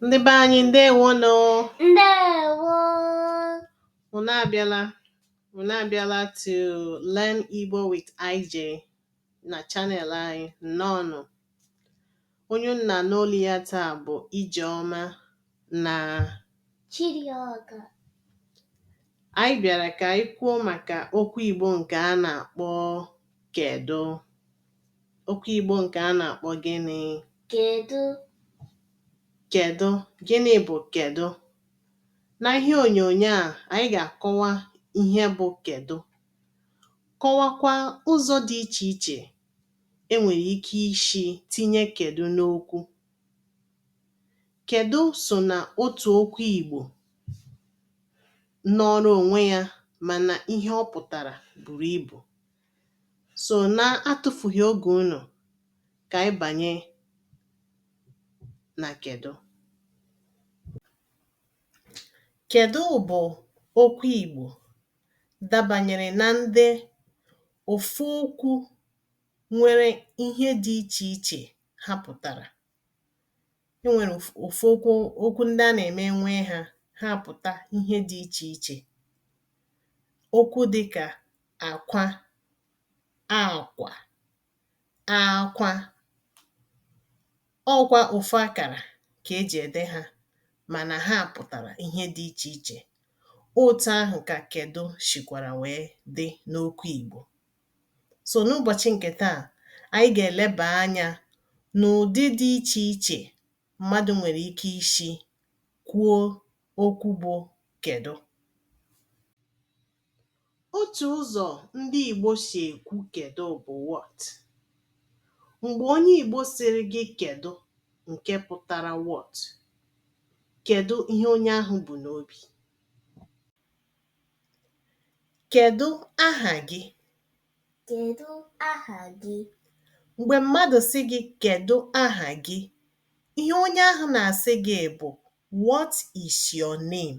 ndị be anyị ndewo nụ ndewo unu abịala unu abịala to learn Igbo with IJ na channel anyị nnọọnụ Onye unu na-anụ olu ya taa bụ Ijeọma na Chidioka. Anyị bịara ka anyị kwuo maka okwu Igbo nke a na-akpọ kedụ. Okwu Igbo nke a na-akpọ gịnị? Kedụ. Kedụ. Gịnị bụ kedụ? Na ihe onyonyo a, anyị ga-akọwa ihe bụ kedụ. Kọwakwa ụzọ dị iche iche e nwere ike isi tinye kedụ n'okwu. Kedụ so na otu okwu Igbo nọọrọ onwe ya mana ihe ọ pụtara buru ibu. So na-atụfughị oge unu, ka anyị banye na kedụ. Kedụ bụ okwu Igbo dabanyere na ndị Ofu okwu nwere ihe dị iche iche ha pụtara. E nwere ofu ofu okwu ndị a na-eme e nwee ha, ha apụta ihe dị iche iche. Okwu dịka akwa, akwa, akwa. Ọ kwa ofu akara ka e ji ede ha mana ha pụtara ihe dị iche iche. Otu ahụ ka kedụ sikwara wee dị n'okwu Igbo. So n'ụbọchị nke taa, anyị ga-eleba anya n'ụdị dị iche iche mmadụ nwere ike isi kwuo okwu bụ kedụ. Otu ụzọ ndị Igbo si ekwu kedụ bụ what. Mgbe onye Igbo sịrị gị kedụ nke pụtara what, kedụ ihe onye ahụ bu n'obi. Kedụ aha gị? Kedụ aha gị? Mgbe mmadụ sị gị kedụ aha gị, ihe onye ahụ na-asị gị bụ what is your name?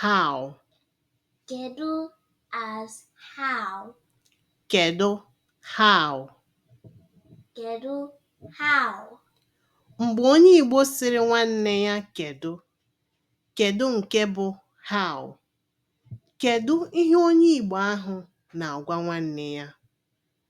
how Kedu as how Kedu how Kedu how Mgbe onye Igbo sịrị nwanne ya kedu, kedu nke bụ how? Kedu ihe onye Igbo ahụ na-agwa nwanne ya?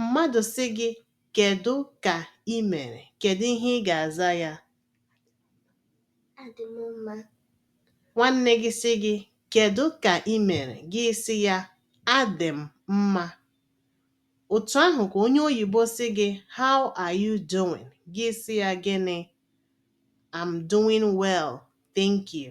Mmadụ sị gị kedụ ka i mere, kedụ ihe ị ga-aza ya? Adị m mma. Nwanne gị sị gị kedụ ka i mere, gị sị ya adị m mma. Otu ahụ ka onye oyibo sị gị how are you doing, gị sị ya gịnị? I'm doing well, thank you.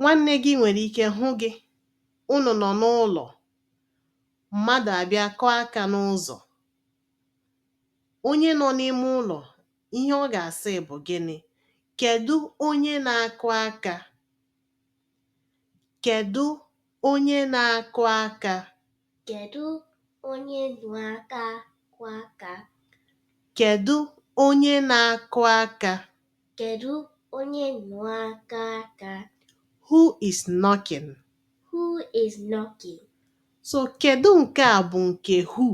Nwanne gị nwere ike hụ gị, unu nọ n'ụlọ, mmadụ abịa kụọ aka n'ụzọ. Onye nọ n'ime ụlọ, ihe ọ ga-asị bụ gịnị? Kedụ onye na-akụ aka? Kedụ onye na-akụ aka? Kedụ onye na-akụ aka? Kedụ onye na-akụ aka? Kedụ onye na-akụ aka? Who is knocking? Who is knocking? So kedụ nke a bụ nke who?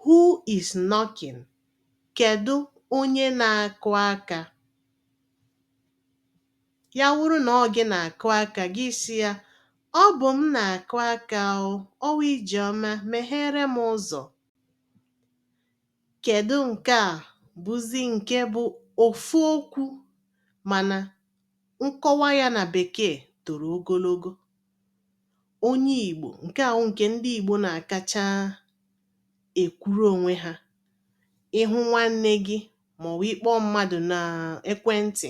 Who is knocking? Kedụ onye na-akụ aka? Ya wụrụ na ọ gị na-akụ aka, gị sị ya, Ọ bụ m na-akụ aka o, ọ wụ Ijeọma, megheere m ụzọ. Kedụ nke a bụzi nke bụ ofu okwu mana nkọwa ya na Bekee toro ogologo. Onye Igbo, nke a wụ nke ndị Igbo na-akacha ekwuru onwe ha. Ị hụ nwanne gị maọbụ ị kpọọ mmadụ n'ekwentị,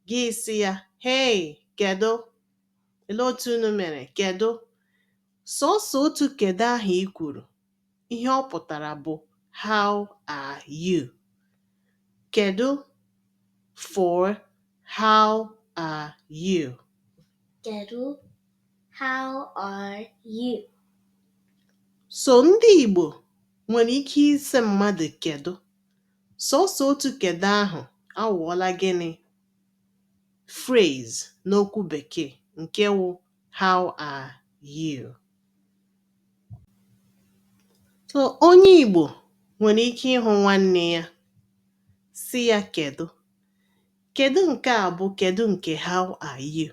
Gị sị ya, Hei, kedụ? Olee otu unu mere? Kedụ? Sọọsọ otu kedụ ahụ i kwuru, ihe ọ pụtara bụ How are you? Kedụ for How are you? Kedụ How are you? So ndị Igbo nwere ike ịsị mmadụ kedụ Sọọsọ otu kedụ ahụ aghọọla gịnị? Phrase n'okwu Bekee nke wụ How are you? So onye Igbo nwere ike ịhụ nwanne ya sị ya kedụ. Kedụ nke a bụ kedụ nke How are you?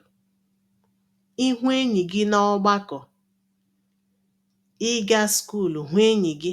Ị hụ enyi gị n'ọgbakọ, ị gaa skuulu hụ enyi gị,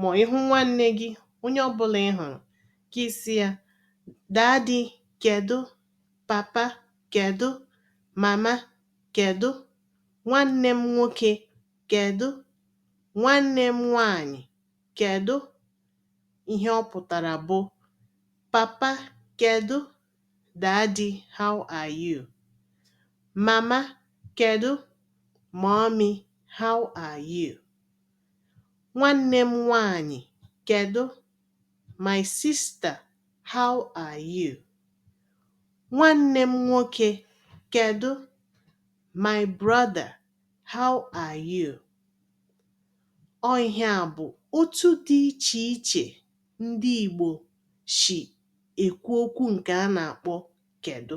Ma ị hụ nwanne gị, onye ọ bụla ị hụrụ, gị sị ya, Daddy, kedụ? Papa, kedụ? Mama, kedụ? Nwanne m nwoke, kedụ? Nwanne m nwaanyị, kedụ? Ihe ọ pụtara bụ, Papa, kedụ? Daddy, how are you? Mama, kedụ? Mommy, how are you? Nwanne m nwanyị, kedụ? My sister, how are you? Nwanne m nwoke, kedụ? My brother, how are you? Ọ ihe a bụ otu dị iche iche ndị Igbo si ekwu okwu nke a na-akpọ kedụ.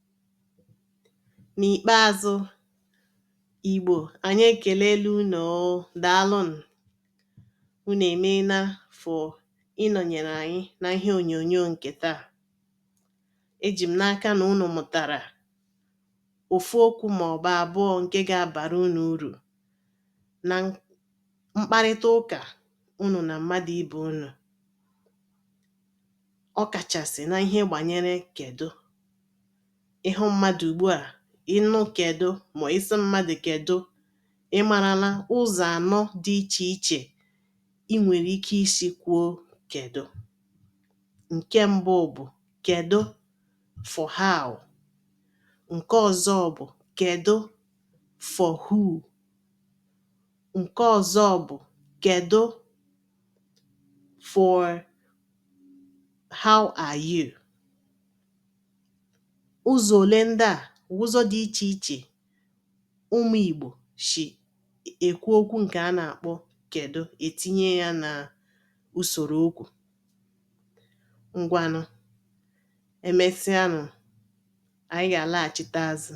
N'ikpeazụ, Igbo, anyị ekelela unu o. Daalụ nụ. Unu emeela for ịnọnyere anyị na ihe onyonyo nke taa. Eji m n'aka na unu mụtara ofu okwu maọbụ abụọ nke ga-abara unu uru na mkparịta ụka unu na mmadụ ibe unu. ọ kachasị na ihe gbanyere kedụ ị hụ mmadụ ugbu a ị nụ kedụ ma ị sị mmadụ kedụ ị marala ụzọ anọ dị iche iche i nwere ike isi kwuo kedụ nke mbụ bụ kedụ for how nke ọzọ bụ kedụ for who nke ọzọ bụ kedụ for how are you? Ụzọ ole ndị a wụ ụzọ dị iche iche ụmụ Igbo si ekwu okwu nke a na-akpọ kedụ etinye ya na usoro okwu. Ngwanụ, emesịanụ, anyị ga-alaghachite azụ.